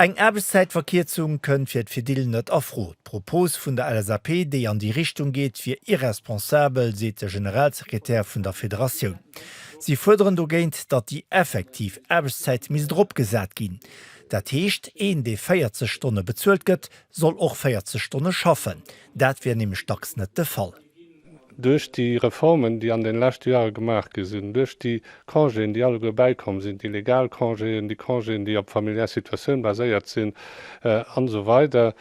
Eng Aarbechtszäitverkierzung kënnt fir d'Fedil net a Fro. D'Propos vun der LSAP, déi an déi Richtung geet, wier irresponsabel, seet de Generalsekretär vun der Federatioun. Si fuerderen dogéint, datt déi effektiv Aarbechtszäit misst erop gesat ginn. Dat heescht, een, dee 40 Stonne bezuelt gëtt, soll och 40 Stonne schaffen. Dat wier nämlech dacks net de Fall. Duerch déi Reformen, déi an den leschte Joere gemaach gi sinn, duerch déi Congéen, déi alleguer bäikomm sinn, déi legal Congéen, déi Congéen, déi op familiär Situatioun baséiert sinn, an esou weider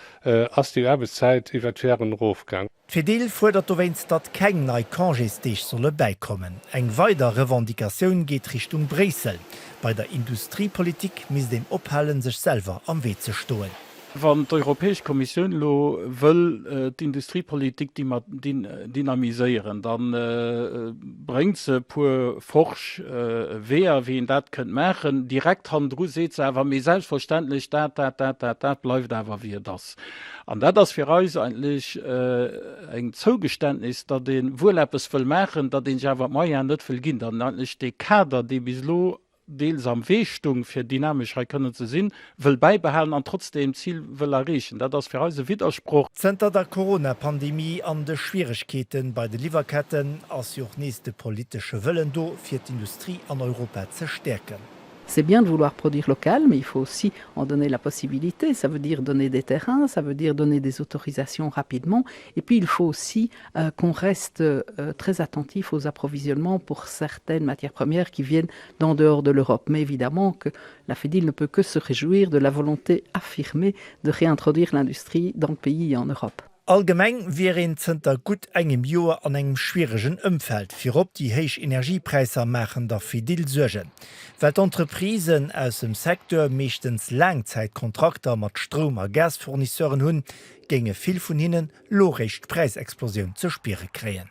ass déi Aarbechtszäit iwwert d'Joeren erofgaang. D'Fedil fuerdert dowéinst, datt keng nei Congésdeeg solle bäikommen. Eng weider Revendicatioun geet Richtung Bréissel. Bei der Industriepolitik misst een ophalen, sech selwer am Wee ze stoen. Wann d'Europäesch Kommissioun elo wëll d'Industriepolitik dynamiséieren, da bréngt se e puer forsch Weeër, wéi een dat kënnt maachen. Direkt hannendru seet se awer, Mee selbstverständlech, dat, dat, dat, dat, dat bleift awer wéi et ass. An dat ass fir eis eigentlech eng Zougeständnis, datt ee wuel eppes wëll maachen, datt ee sech awer d'Moyene net wëll ginn, datt een eigentlech dee Kader, dee bis elo deels am Wee stung, fir dynamesch hei kënnen ze sinn, wëll bäibehalen an trotzdeem d'Zil wëll erreechen. Dat ass fir eis e Widdersproch. Zënter der Corona-Pandemie an de Schwieregkeete bei de Liwwerketten ass jo och nees de politesche Wëllen do, fir d'Industrie an Europa ze stäerken. C'est bien de vouloir produire local, mais il faut aussi en donner la possibilité, ça veut dire donner des terrains, ça veut dire donner des autorisations rapidement et puis il faut aussi qu'on reste très attentif aux approvisionnements pour certaines matières premières qui viennent d'en dehors de l'Europe, mais évidemment que la Fedil ne peut que se réjouir de la volonté affirmée de réintroduire l'industrie dans le pays et en Europe. Allgemeng wier een zënter gutt engem Joer an engem schwieregen Ëmfeld. Virop déi héich Energiepräisser maachen der Fedil Suergen. Well d'Entreprisen aus dem Secteur meeschtens Laangzäitkontrakter mat Stroum a Gasfournisseuren hunn, géinge vill vun hinnen lo réischt d'Präisexplosioun ze spiere kréien.